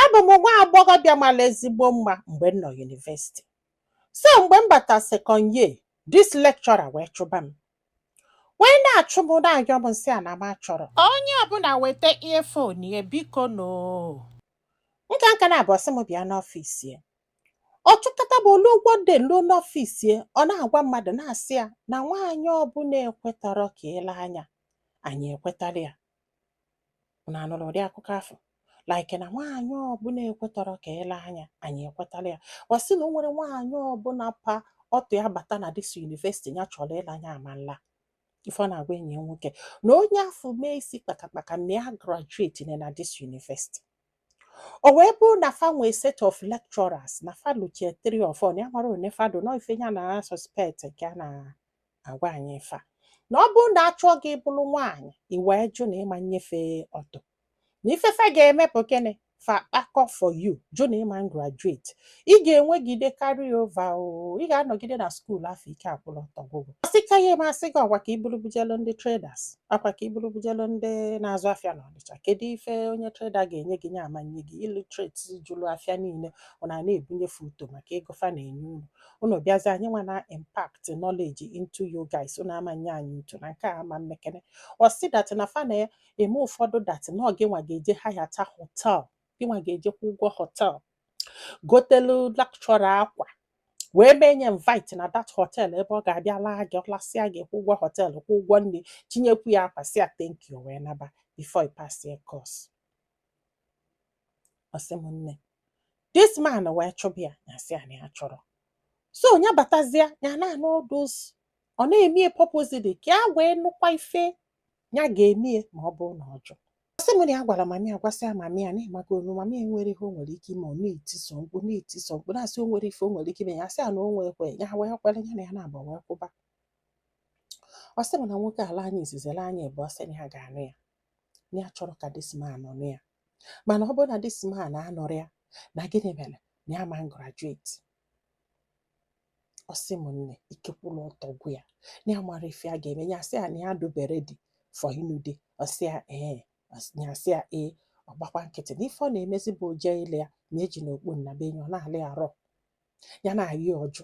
abụ m nwa agbọghọbịa mara ezigbo mma mgbe m nọ yunivesiti so mgbe m bata sekọnd ye dis lekchọra wee chụba m wee na-achụ m na-ayọ m m sị ya na m achọrọ onye ọbụla weta earphone ya biko nụ nka nka na-abụ ọ sị m bịa n'ọfịs ya ọ chụkata m olu ụgwọ dị luo n'ọfịs ya ọ na-agwa mmadụ na-asị ya na nwaanyị ọbụla ekwetọrọ ka ele anya anyị ekwetara ya unu anụrụ ụdị akụkọ afụ like na nwaanyị ọbụla ekwetọrọ ka ele anya anyị ekwetara ya ọ sị na o nwerọ nwaanyị ọbụla pa ọtụ ya bata na dis yunivesiti ya chọrọ ịla nya ama nla ife ọ na-agwa enyi ya nwoke na onye afụ mee isi kpakakpaka na ya graduate na na dis yunivesiti o wee bụrụ na fa nwee set of lecturers na fa luchie three or four na ya mara one fado na ife ya na suspect nke a na agwa anyị ife a na ọ bụrụ na a chụọ gị ị bụrụ nwaanyị i wee jụ na ị ma nnye fa ọtụ na ife fa ga-eme bụ gịnị fa kpakọ for you jụ na ị ma graduate ị ga-enwegide carry over o ị ga-anọgide na skuul afụ ike akwụrụ ọtọ gwụ gị asị ka ya eme asị gị ọkwa ka i buru bujelu ndị traders ọkwa ka i buru bujelu ndị na-azụ afịa na ọnịcha kedu ife onye trader ga-enye gị nya ama nye gị illiterate juru afịa niile unu na-ebunye fa ọtụ maka ego fa na-enye unu unu bịazi anyị nwa na impact knowledge into you guys unu ama nye anyị ọtụ na nke a ama mmekene ọ sị dat na fa na-eme ụfọdụ dat na ọ gịnwa ga-eje hayata hotel gịnwa ga-eje kwụ ụgwọ hotel gotelu lekchọra akwa wee mee nya invite na dat hotel ebe ọ ga-abịa laa gị ọ lasịa gị kwụ ụgwọ hotel kwụ ụgwọ nri chịnyekwu ya akwa sị ya thank you wee naba before you pass your course ọ sị m nne this man wee chụba ya ya sị ya na ya achọrọ so nya batazia ya na-anụ all those ọ na-eme ya purposely ka ya wee nụkwa ife ya ga-eme ya ma ọ bụrụ na ọ jụ ọ sị m na ya gwara mami ya gwasịa mami ya na ị mago nu mami ya nwerọ ihe o nwere ike ime ọ na-eti sọ mkpu na-eti sọ mkpu na-asị o nwere ife o nwere ike ime ya sị ya na o nwee ekwe ya wee kwere ya na ya na-agba wee kwụba ọ sị m na nwoke ala anyị izizere anyị ebe ọ sị na ya ga-anụ ya na ya achọrọ ka this man nụ ya mana ọ bụrụ na this man anụrọ ya na gịnị mere na ya ma graduate ọ sị m nne ike kwụlụ ọtọ gwụ ya na ya mara ife a ga-eme ya sị ya na ya dụbe ready for ịnụ di ọ sị ya ee ọ sị- ya sị ya ee ọ gbakwa nkịtị na ife ọ na-emezi bụ oje ile ya na eji na okpu nnabe enyi ọ na-alị arọ ya na-ayị ọjụ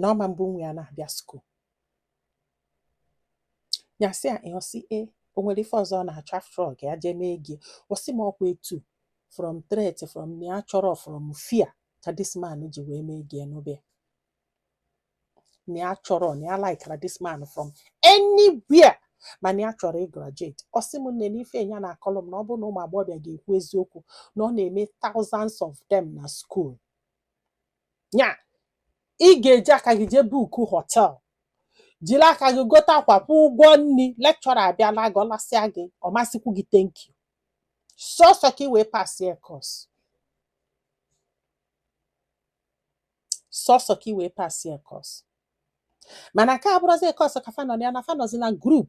na ọ ma mbụ nwa ya na-abịa skuul nya sị ya ị ọ sị e o nwere ife ọzọ ọ na-achọ after all ka ya jee mee gị ọsị m ọkwa etu from threat from na ya chọrọ from fear ka this man ji wee mee gị e no be na ya chọrọ na ya likara this man from anywhere mana ya chọrọ ịgraduate ọ sị m nne na ife ya na-akọlụ m na ọ bụrụ na ụmụ agbọghọbịa ga-ekwu eziokwu na ọ na-eme thousands of them na school nya ị ga-eji aka gị jee bukuo hotel jiri aka gị gote akwa kwụọ ụgwọ nri lecturer abịa laa gị ọ lasịa gị ọ ma sịkwu gị thank you sọsọ ka ị wee pasie course sọsọ ka ị wee pasie course mana nke a bụrọzị course ka fa nọ ya na fa nọzị na group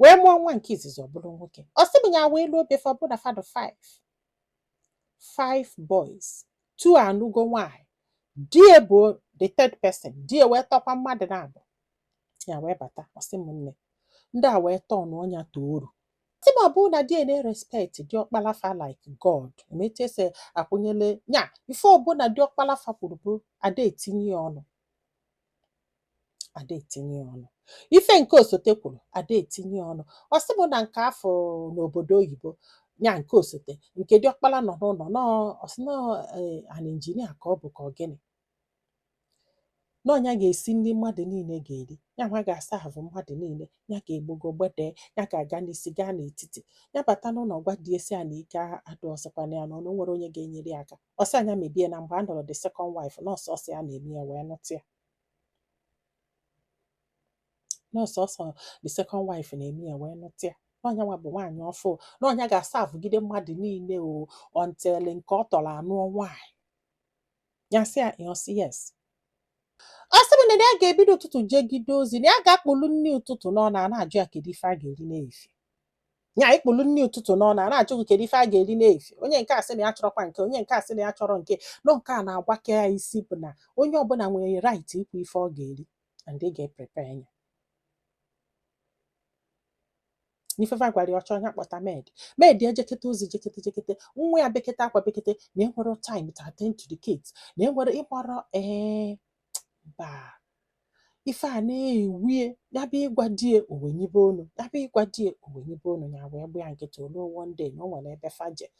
wee mụọ nwa nke izizi ọ bụrụ nwoke ọ sị m ya wee luo be fa ọ bụ na fa dụ 5 five boys two anụgo nwanyị di ya bụ the third person di ya wee tọkwa mmadụ naabọ ya wee bata ọ sị m nne ndị a wee tọọ na ọnya toru sị m ọ bụrụ na di ya na-erespect diọkpala fa like God emetu e si akwanyele ya ife ọbụla diọkpala fa kwuru bụ ada etinye ya ọnụ ada etinye ọnụ ife nke osote kwuru ada etinye ọnụ ọ sị m na nke afụ n'obodo oyibo ya nke osote nke diọkpala nọ n'ụlọ na ọ sị na ọ eh, an engineer ka ọ bụ ka ọ gịnị na ọ nya ga-esi nri mmadụ niile ga-eri ya nwa ga-aserve mmadụ niile ya ga-egbogo gbedee ya ga-aga n'isi gaa n'etiti ya bata n'ụlọ gwa di ya sị ya na ike adụọzịkwana ya na o nwere onye ga-enyere ya aka ọ sị ya nya mebe na mgbe a nụrụ the second wife na ọ sọsọ ya na-eme ya wee nụta ya na ọ sọsọ the second wife na-eme ya wee nụta ya na ọ nya nwa bụ nwaanyị ọfụụ na ọ nya ga-aservegide mmadụ niile o until nke ọ tọrọ anụọ nwaanyị ya sị ya ihe ọ sị yes ọ sị m na ya ga-ebido ụtụtụ jegide ozi na ya ga-akpụlu nri ụtụtụ n'ọnụ a na-ajụ ya kedu ife a ga-eri n'efi nya ị kpụlụ nri ụtụtụ n'ọnụ a na-ajụ gị kedu ife a ga-eri n'efi onye nke a sị na ya chọrọkwa nke onye nke a sị na ya chọrọ nke na ọ nke a na-agbake ya isi bụ na onye ọbụla nwere right ikwu ife ọ ga-eri and ị ga-eprepare ya na ife fa gwara ya ọ chọọ nya kpọta maid maid ejekete ozi jekete jekete nwa ya bekete akwa bekete na enwere time to attend to the kids na enwere ịgbara ee mba ife a na-ewie ya bịa ịgwa di ya o wenyibe ọnụ ya bịa ịgwa di ya o wenyibe ọnụ ya wee gbaa ya nkịtị o ruo one day na o nwere ebe fa jee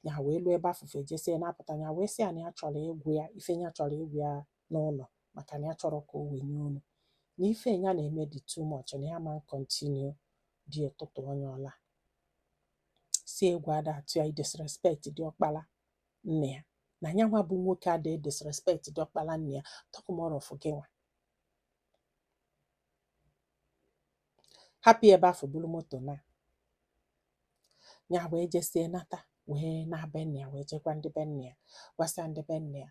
ya wee luo ebe afụ fa jesịa na-apụta ya wee sị ya na ya chọrọ ịgwa ya ife ya achọrọ ịgwa ya n'ụlọ maka na ya achọrọ ka o wenye ọnụ na ife ya na-eme dị too much na ya ma continue di ya tutu onye ọla sị egwu ada atụ ya idisrespect diọkpara nne ya na nya nwa bụ nwoke ada disrespect diọkpala nne ya talk more of gị nwa hapụ ebe afụ buru moto na ya wee jesie nata wee na be nne ya wee jekwa ndị be nne ya gwasịa ndị be nne ya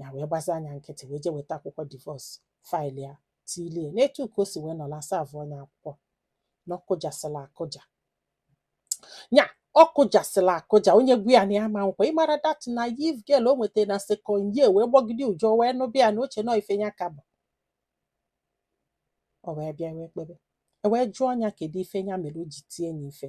ya wee gbazia nya nkịtị wee jee weta akwụkwọ divorce file ya tilie n'etu ka o si wee nọlụ a savụọ nya akwụkwọ na ọ kụjasịla akụja ya ọ kụjasịla akụja onye gwa ya na ya ma ọ kwa ị mara that naive girl o nwetara na second year wee gbọgide ụjọ wee nụba ya na o che na ọ ife ya ka bụ o wee bịa wee kpebe e wee jụọ ya kedu ife ya mere o ji tie ya ife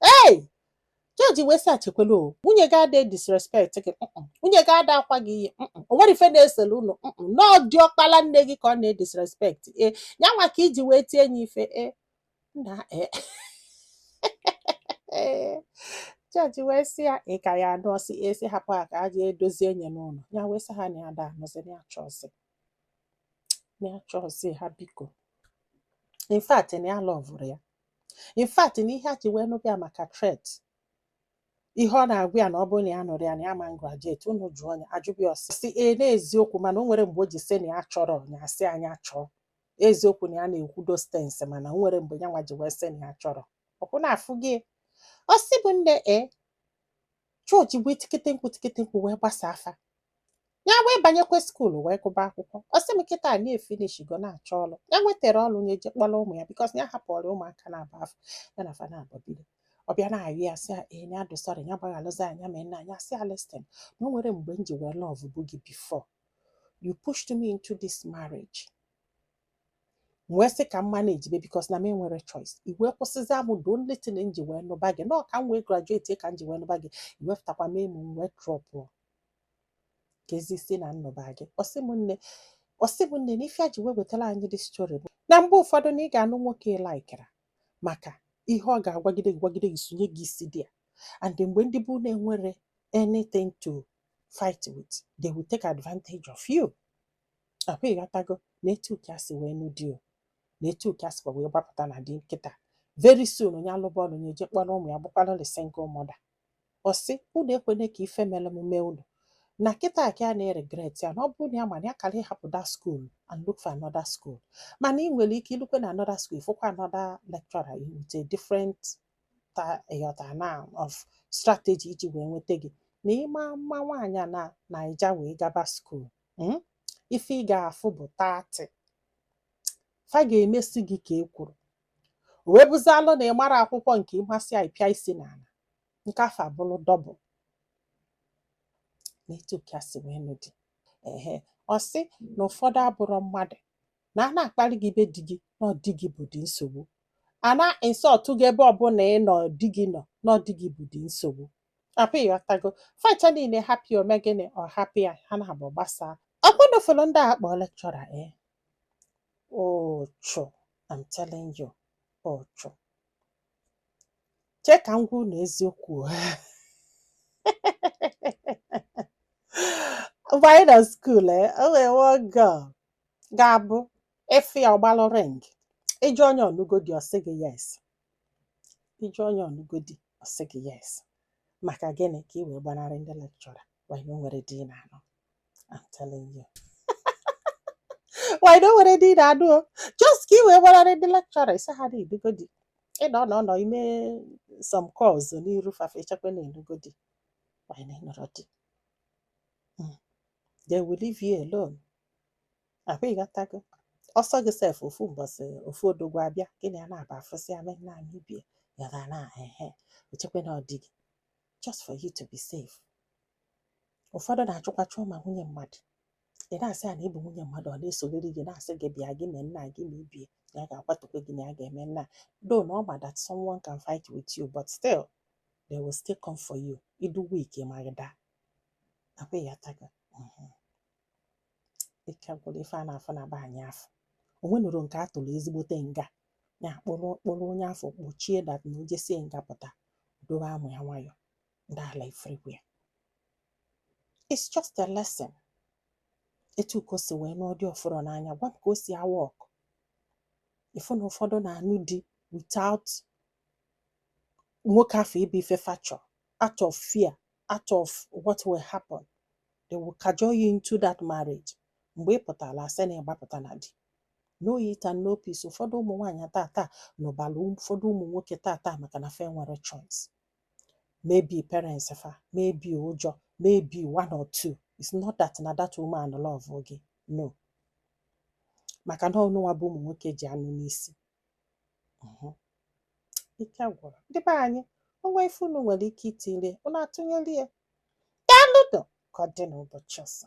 ei jọji wee sị a chekwele o nwunye gị ada disrespect gị mm-mm. nwunye gị ada akwa gị iyi mm-mm. o nwere ife na-esele unu mm-mm. na ọ diọkpala nne gị ka ọ na-edisrespect e ya nwa ka i ji wee tie nya ife e nna e jọji wee sị ya ị ka ya anụ ọ sị e sị hapụ ha ka ha jee dozie enye n'ụlọ ya wee sị ha na ya ada anụzi na ya achọzi na ya achọzi ha biko in fact na ya alọvụrọ ya in fact na ihe ya ji wee nụba ya maka threat ihe ọ na-agwa ya na ọ bụrụ na ya anụrọ ya na ya ama graduate unu jụọ ya a jụba ya ọ sị sị ee n'eziokwu mana o nwere mgbe o ji sị na ya achọrọ ya a sị a nya chọọ eziokwu na ya na-ekwu those things mana o nwere mgbe ya nwa ji wee sị na ya achọrọ okwu na-afụ gị ọ sị bụ nne e jọji wee tikete mkpu tikete mkpu wee gbasaa fa ya wee banyekwa skuulu wee gụba akwụkwọ ọ sị m kịta na ya efinishgo na-achọ ọrụ ya nwetara ọrụ nya eje kpọrọ ụmụ ya because ya hapụrụ ụmụaka n'ebe afụ ya na fa na-agba bido ọ bịa na-ayọ ya sị ee ya dị sorry ya gbaghalụzia nya ma nna nya sị a listen na o nwere mgbe m ji wee lọvụbu gị before you pushed me into this marriage wee sị ka m manage be because na m enwere choice i wee kwụsịzịa m the only thing m ji wee nụba gị na ọ ka m wee graduate ka m ji wee nụba gị i wepụtakwa m emu m wee drọpụ kezi isi na nnụba gị ọ sị m nne ọ sị m nne na ife ya ji wee wetara anyị this story bụ na mgbe ụfọdụ na ị ga-anụ nwoke ị laịkịrọ maka ihe ọ ga-agwagide gị gwagide gị sonye gị isi dị ya and mgbe ndị bụ na enwere anything to fight with they will take advantage of you ọ kwa ị ghọtago na etu ka ya si wee nụ di o na etu ka ya sikwa wee gbapụta na di kịta very soon nya alụba ọlụ nya eje kpọrọ ụmụ ya bụkwara the single mother ọ sị unu ekwene ka ife mere m mee unu na kịta ka ya na-eregret ya na ọ bụrụ na ya ma na ya kara ịhapụ that school and look for another school mana ị nwere ike ilukwa na another school ị fụkwa another lecturer with a different ta ịghọta na of strategy iji wee nweta gị na ịma mma nwaanyị na naija wee gaba school hmm? ife ị ga-afụ bụ tatị fa ga-emesi gị ka e kwuru o wee bụzi alụ na ị mara akwụkwọ nke ị masịa ị pịa isi n'ala nke afụ abụrụ double na etu ka si wee nụ di ehe ọ sị na ụfọdụ abụrọ mmadụ na a na-akparị gị be di gị na ọ di gị bụ dị nsogbu a na-insult gị ebe ọbụla ị nọ di gị nọ na ọ di gị bụ dị nsogbu Akwa ịghọtago. Fa ncha niile happy o mee gịnị ọ hapụ ya ha naabọ gbasaa. Ọkwa unu fụlụ ndị a kpọọ lecturer e. Ụchụ, I'm telling you. Ụchụ. Chee ka m gwa unu eziokwu. Mgbe anyị nọ school e, o nwee one girl ga-abụ ị fụ ya ọ gbalụ ring. Ị jụ onye ọ nụgo di ọ sị gị yes. ị jụ onye ọ nụgo di ọ sị gị yes maka gịnị ka ị wee gbanarị ndị lecturer while na o nwerọ di na-anụ I'm telling you while na o nwerọ di na-anụ o just ka ị wee gbanarị ndị lecturer ị sị ha na ị nụgo di ị nọ nọ nọ ị mee some calls n'iru fa fa echekwa na ị nụgo di while na ị nụrọ di Mm. they will leave you alone akwa ịghọtago ọ sọ gị sef ofu mbọsị ofu odogwu abịa gị na ya na-aba office ya me na anyị bie ya ga na ehe o chekwe na ọ di gị just for you to be safe ụfọdụ na-achụkwa chụọ ma nwunye mmadụ ị na-asị ya na ị bụ nwunye mmadụ ọ na-esoriri gị na-asị gị bịa gị mee nna gị ma ibie na ya ga-akwatukwe gị na ya ga-eme nna though na ọ ma that someone can fight with you but still they will still come for you ị dụ weak ma gị daa akwa ịghọtago Mhm. ike gwụrụ ife a na-afụ na be anyị afụ o nwenụrụ nke a tụrụ ezigbote nga ya kpụrụ kpụrụ onye afụ kpọchie that na o jesịa nga pụta dowe amụ ya nwayọ ndị ala everywhere it's just a lesson etu ka o si wee nụọ di ọ fụrụ n'anya gwa m ka o si awa ọkụ ị fụ na ụfọdụ na-anụ di without nwoke afụ ịbụ ife fa chọ out of fear out of what will happen they will cajole you into that marriage mgbe ị pụtara a sị na ị gbapụta na di no it and no peace ụfọdụ ụmụ nwaanyị tata nụbara ụfọdụ ụmụ nwoke tata maka na fa enwerọ choice maybe parents fa maybe ụjọ maybe one or two it's not that na that woman love gị no maka na ọ unu nwa bụ ụmụ nwoke ji anụ n'isi Mhm. ike gwụrụ ndị be anyị o nwee ife unu nwere ike itiri unu atụnyere ya daalụnụ ka ọ dị n'ụbọchị ọzọ